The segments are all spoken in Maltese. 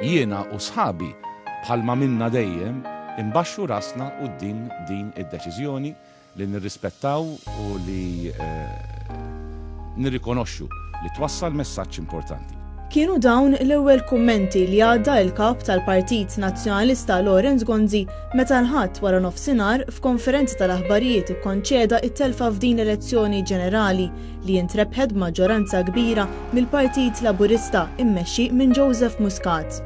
Jiena u sħabi bħalma minna dejjem imbaxxu rasna quddiem din id-deċiżjoni li nirrispettaw u li eh, nirrikonoxxu li twassal messaġġ importanti. Kienu dawn l-ewwel kummenti li għadda il-kap tal-Partit Nazzjonalista Lawrence Gonzi Meta l-Ħadd wara nofsinhar, f'konferenza tal-aħbarijiet ikkonċeda t-telfa f'din l-elezzjoni ġenerali li intrebħet b'maġġoranza kbira mill-Partit Laburista mmexxi minn Joseph Muscat.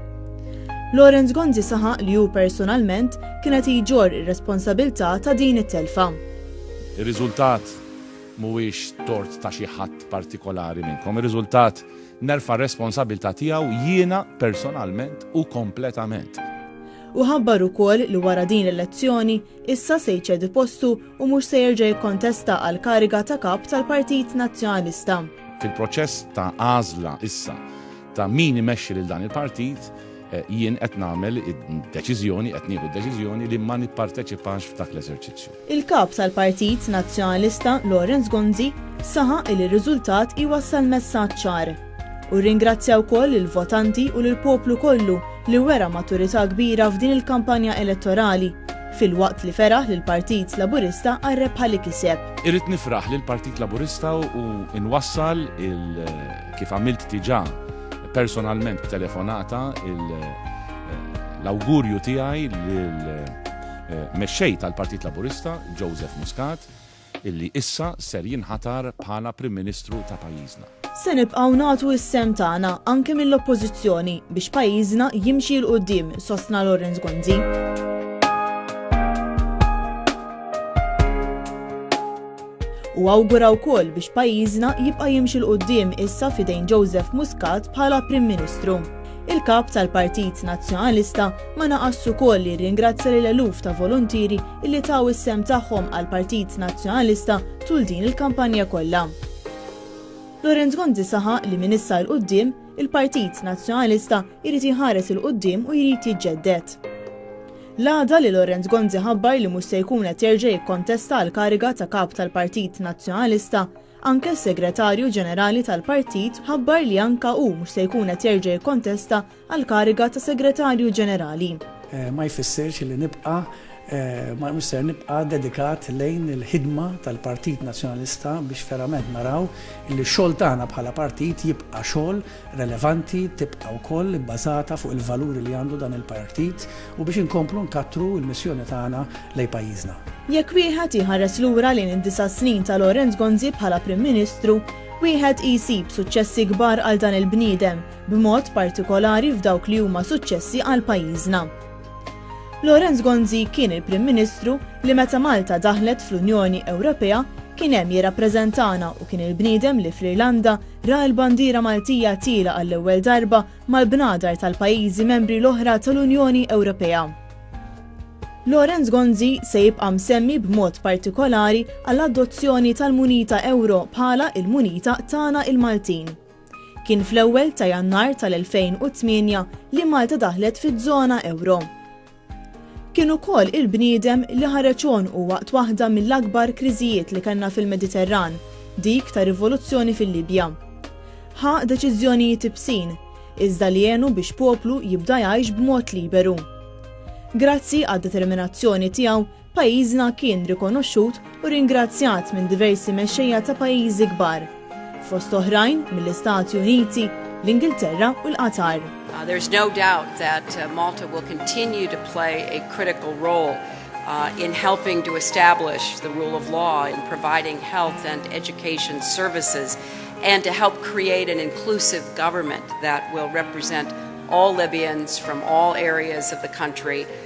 Lawrence Gonzi saħaq li hu personalment kien qed jġorr ir-responsabilità ta' din it-telfa. Ir-riżultat mhuwiex tort ta' xi ħadd partikolari minnkom. Ir-riżultat nerfa' r-responsabilità tiegħu jiena personalment u kompletament. Hu ħabbar ukoll li wara din l-elezzjoni, issa se jċedi postu u mhux se jerġa' jikkontesta għall-kariga ta' Kap tal-Partit Nazzjonalista. Fil-proċess ta' għażla issa ta' min imexxi lil dan il-partit, eh, jien qed nagħmel id-deċiżjoni, qed nieħu d-deċiżjoni li ma nipparteċipax f'dak l-eżerċizzju. Il-Kap tal-Partit Nazzjonalista Lawrence Gonzi saħaq li r-riżultat iwassal messaġġ ċar u rringrazzja wkoll lill-votanti u lill-poplu kollu li wera maturità kbira f'din il-kampanja elettorali filwaqt li feraħ lill-Partit Laburista għar-rebħa li kiseb. Irrid nifraħ lill-Partit Laburista u nwassal il kif għamilt diġà personalment b'telefonata l-awgurju tiegħi lil Mexxej tal-Partit Laburista, Joseph Muscat, illi issa ser jinħatar bħala Prim Ministru ta' pajjiżna. Se nibqgħu nagħtu s-sehem tagħna, anke mill-Oppożizzjoni, biex pajjiżna jimxi 'l quddiem, sostna Lawrence Gonzi. u awgura wkoll biex pajjiżna jibqa' jimxi 'l quddiem issa f'idejn Joseph Muscat bħala Prim Ministru. Il-Kap tal-Partit Nazzjonalista ma naqasx ukoll li rringrazzja lill-eluf ta' voluntieri illi taw is-sehem tagħhom għall-Partit Nazzjonalista tul din il-kampanja kollha. Laurent Gonzi saħaq li minn issa 'l quddiem, il-Partit Nazzjonalista jrid jħares 'il quddiem u jrid jiġġedded. L-għada li Lawrence Gonzi ħabbar li mhux se jkun qed jerġa' jikkontesta għall-kariga ta' Kap tal-Partit Nazzjonalista, anke s-Segretarju Ġenerali tal-Partit ħabbar li anka hu mhux se jkun qed jerġa' jikkontesta għall-kariga ta' Segretarju Ġenerali. Ma jfissirx li nibqa' ma mhux ser nibqa' dedikat lejn il-ħidma tal-Partit Nazzjonalista biex verament naraw li x-xogħol tagħna bħala partit jibqa' xogħol relevanti tibqa' wkoll ibbażata fuq il-valuri li għandu dan il-Partit u biex inkomplu nkattru l-missjoni tagħna lejn pajjiżna. Jekk wieħed iħares lura lejn id-disa' snin ta' Lawrence Gonzi bħala Prim Ministru, wieħed jsib suċċessi kbar għal dan il-bniedem, b'mod partikolari f'dawk li huma suċċessi għal pajjiżna. Lawrence Gonzi kien il-Prim Ministru li meta Malta daħlet fl-Unjoni Ewropea kien hemm jirrappreżentana u kien il-bniedem li fl-Irlanda ra l-bandiera Maltija tiela għall-ewwel darba mal-bnadar tal-pajjiżi membri l-oħra tal-Unjoni Ewropea. Lawrence Gonzi se jibqa' msemmi b'mod partikolari għall-adozzjoni tal-munita Ewro bħala il-munita tagħna il-Maltin. Kien fl-ewwel ta' Jannar tal-2008 li Malta daħlet fiż-żona ewro. Kien ukoll il-bniedem li ħareġ għonqu waqt waħda mill-akbar kriżijiet li kellna fil-Mediterran, dik tar-rivoluzzjoni fil-Libja. Ħa deċiżjonijiet ibsin, iżda li għenu biex poplu jibda jgħix b'mod liberu. Grazzi għad-determinazzjoni tiegħu, Pajjiżna kien rikonoxxut u ringrazzjat minn diversi mexxejja ta' pajjiżi kbar, fost oħrajn mill-Istati Uniti, l-Ingilterra u l-Qatar. There is no doubt that Malta will continue to play a critical role in helping to establish the rule of law, in providing health and education services, and to help create an inclusive government that will represent all Libyans from all areas of the country.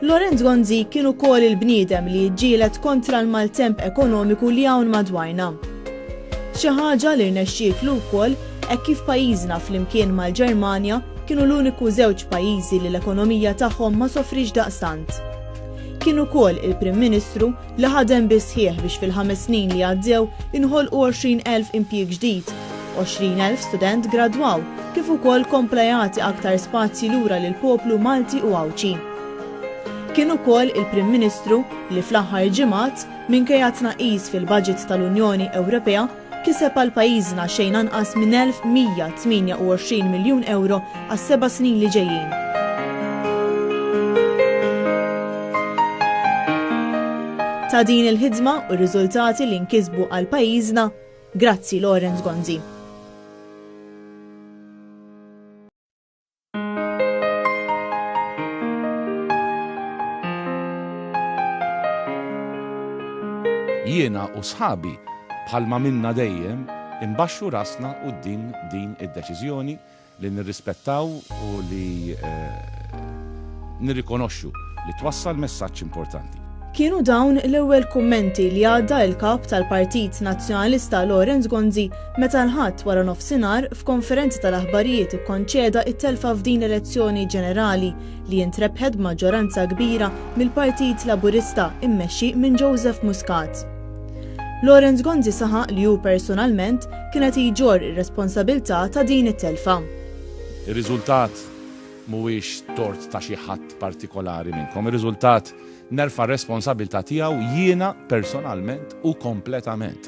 Lorenz Gonzi kien ukoll il-bniedem li jiġġieled kontra l-maltemp ekonomiku li hawn madwarna. Xi ħaġa li rnexxietlu wkoll hekk kif pajjiżna flimkien mal-Ġermanja kienu l-uniku żewġ pajjiżi li l-ekonomija tagħhom ma sofriex daqstant. Kien ukoll il-Prim Ministru li ħadem bis-sħiħ biex fil-ħames snin li għaddew inħolqu 20,000 impjieg ġdid, 20,000 student gradwaw kif ukoll kompla jagħti aktar spazji lura lill-poplu Malti u Għawdxi. Kien ukoll il-Prim Ministru li fl-aħħar ġimgħat, minkejja t-tnaqqis fil-baġit tal-Unjoni Ewropea, Kiseb għal pajjiżna xejn anqas minn 1,128 miljun ewro għas-seba' snin li ġejjin. Ta' din il-ħidma u r-riżultati li nkisbu għal pajjiżna, grazzi Lawrence Gonzi. Jiena u sħabi, bħalma minna dejjem, imbaxxu rasna quddiem din id-deċiżjoni li nirrispettaw u li nirrikonoxxu li twassal messaġġ importanti. Kienu dawn l-ewwel kummenti li għadda l-Kap tal-Partit Nazzjonalista Lawrence Gonzi Meta l-Ħadd waranofsinhar, f'konferenza tal-aħbarijiet ikkonċeda t-telfa f'din l-elezzjoni ġenerali li intrebħet b'maġġoranza kbira mill-Partit Laburista mmexxi minn Joseph Muscat. Lawrence Gonzi saħaq li hu personalment kien qed jġorr ir-responsabilità ta' din it-telfa. Ir-riżultat mhuwiex tort ta' xi ħadd partikolari minnkom. Ir-riżultat nerfa' r-responsabilità tiegħu jiena personalment u kompletament.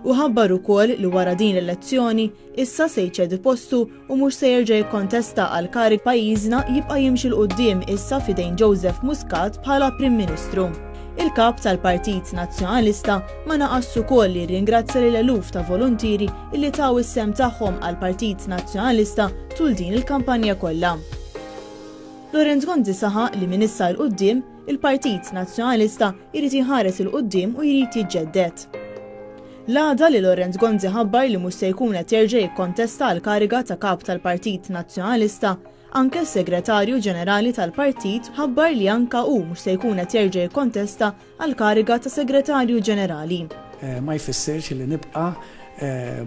u ħabbar ukoll li wara din l-elezzjoni issa se jċedi postu u mhux se jerġa' jikkontesta għal karig pajjiżna jibqa' jimxi 'l quddiem issa f'idejn Joseph Muscat bħala Prim Ministru. Il-Kap tal-Partit Nazzjonalista ma naqasx ukoll li rringrazzja lil eluf ta' voluntieri illi taw is-sehem tagħhom għall-Partit Nazzjonalista tul din il-kampanja kollha. Laurent Gonzi saħaq li minn issa 'l quddiem, Il-Partit Nazzjonalista jrid iħares 'il quddiem u jrid jiġġedded. L-għada li Lawrence Gonzi ħabbar li mhux se jkun qed jerġa' jikkontesta għall-kariga ta' Kap tal-Partit Nazzjonalista, anke s-Segretarju Ġenerali tal-Partit ħabbar li anke hu mhux se jkun qed jerġa' jikkontesta għall-kariga ta' Segretarju Ġenerali. Ma jfissirx li nibqa'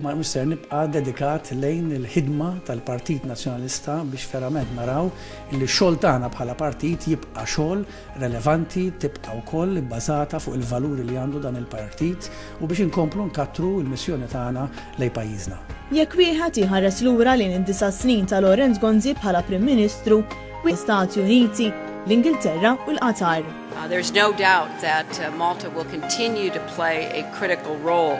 Ma mhux ser nibqa' dedikat lejn il-ħidma tal-Partit Nazzjonalista biex verament naraw li x-xogħol tagħna bħala partit jibqa' xogħol relevanti, tibqa' wkoll ibbażata fuq il-valuri li għandu dan il-partit u biex inkomplu nkattru l-missjoni tagħna lejn pajjiżna. Jekk wieħed iħares lura lejn id-disa' snin ta' Lawrence Gonzi bħala Prim Ministru, wieħed jara l-Istati Uniti, l-Ingilterra u l-Qatar. There is no doubt that Malta will continue to play a critical role.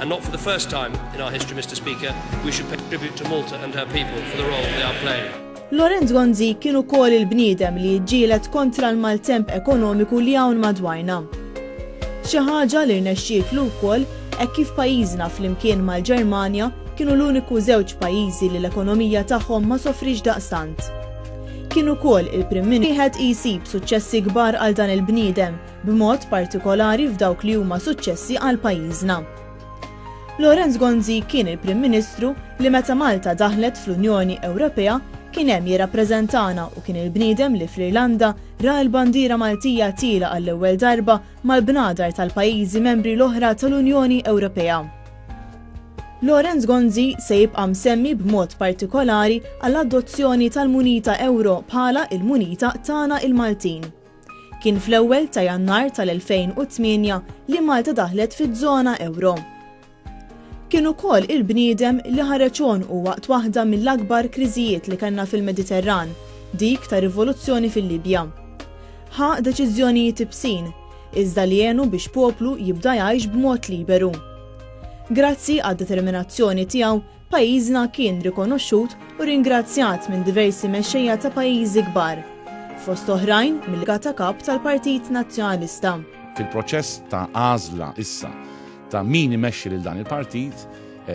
And not for the first time in our history, Mister Speaker, we should pay tribute to Malta and her people for the role they are playing. Lorenz Gonzi kien ukoll il-bniedem li jiġġieled kontra l-maltemp ekonomiku li hawn madwarna. Xi ħaġa li rnexxietlu wkoll hekk kif pajjiżna flimkien mal-Ġermanja kienu l-uniku żewġ pajjiżi li l-ekonomija tagħhom ma sofrix daqstant. Kien ukoll il-Prim Ministru wieħed jsib suċċessi kbar għal dan il-bniedem b'mod partikolari f'dawk li huma suċċessi għal pajjiżna. Lawrence Gonzi kien il-Prim Ministru li meta Malta daħlet fl-Unjoni Ewropea kien hemm jirrappreżentana u kien il-bniedem li fl-Irlanda ra l-bandiera Maltija tiela għall-ewwel darba mal-bnadar tal-pajjiżi membri l-oħra tal-Unjoni Ewropea. Lorenz Gonzi se jibqa' msemmi b'mod partikolari għall-adozzjoni tal-munita euro bħala il-munita tagħna il-Maltin. Kien fl-ewwel ta' Jannar tal-2008 li Malta daħlet fiż-żona ewro. Kien ukoll il-bniedem li ħareġ għonqu waqt waħda mill-akbar kriżijiet li kellna fil-Mediterran, dik tar-rivoluzzjoni fil-Libja. Ħa deċiżjonijiet ibsin, iżda li għenu biex poplu jibda jgħix b'mod liberu. Grazzi għad-determinazzjoni tiegħu, Pajjiżna kien rikonoxxut u ringrazzjat minn diversi mexxejja ta' pajjiżi kbar, fost oħrajn mill-Ka ta' Kap tal-Partit Nazzjonalista. Fil-proċess ta' għażla issa ta' min imexxi lil dan il-partit,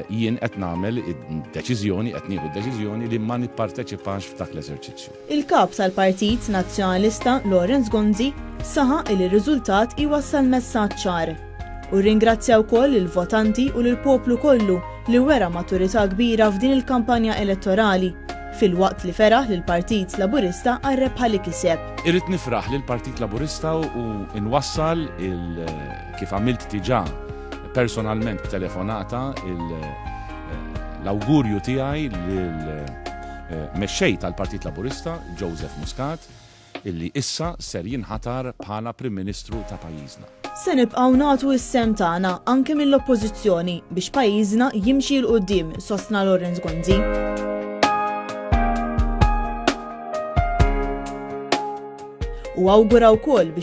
jien qed nagħmel id-deċiżjoni, qed nieħu d-deċiżjoni li ma nipparteċipax f'dak l-eżerċizzju. Il-Kap tal-Partit Nazzjonalista Lawrence Gonzi saħaq li r-riżultat iwassal messaġġ ċar. Hu rringrazzja wkoll lill-votanti u lill-poplu kollu li wera maturità kbira f'din il-kampanja elettorali, filwaqt li feraħ lill-Partit Laburista għar-rebħa li kiseb. Irrid nifraħ lill-Partit Laburista u nwassal il kif għamilt diġà personalment b'telefonata l-awgurju tiegħi lil Mexxej tal-Partit Laburista, Joseph Muscat, illi issa ser jinħatar bħala Prim Ministru ta' pajjiżna. Se nibqgħu nagħtu s-sehem tagħna, anke mill-Oppożizzjoni, biex pajjiżna jimxi 'l quddiem, sostna Lawrence Gonzi. u awgura wkoll biex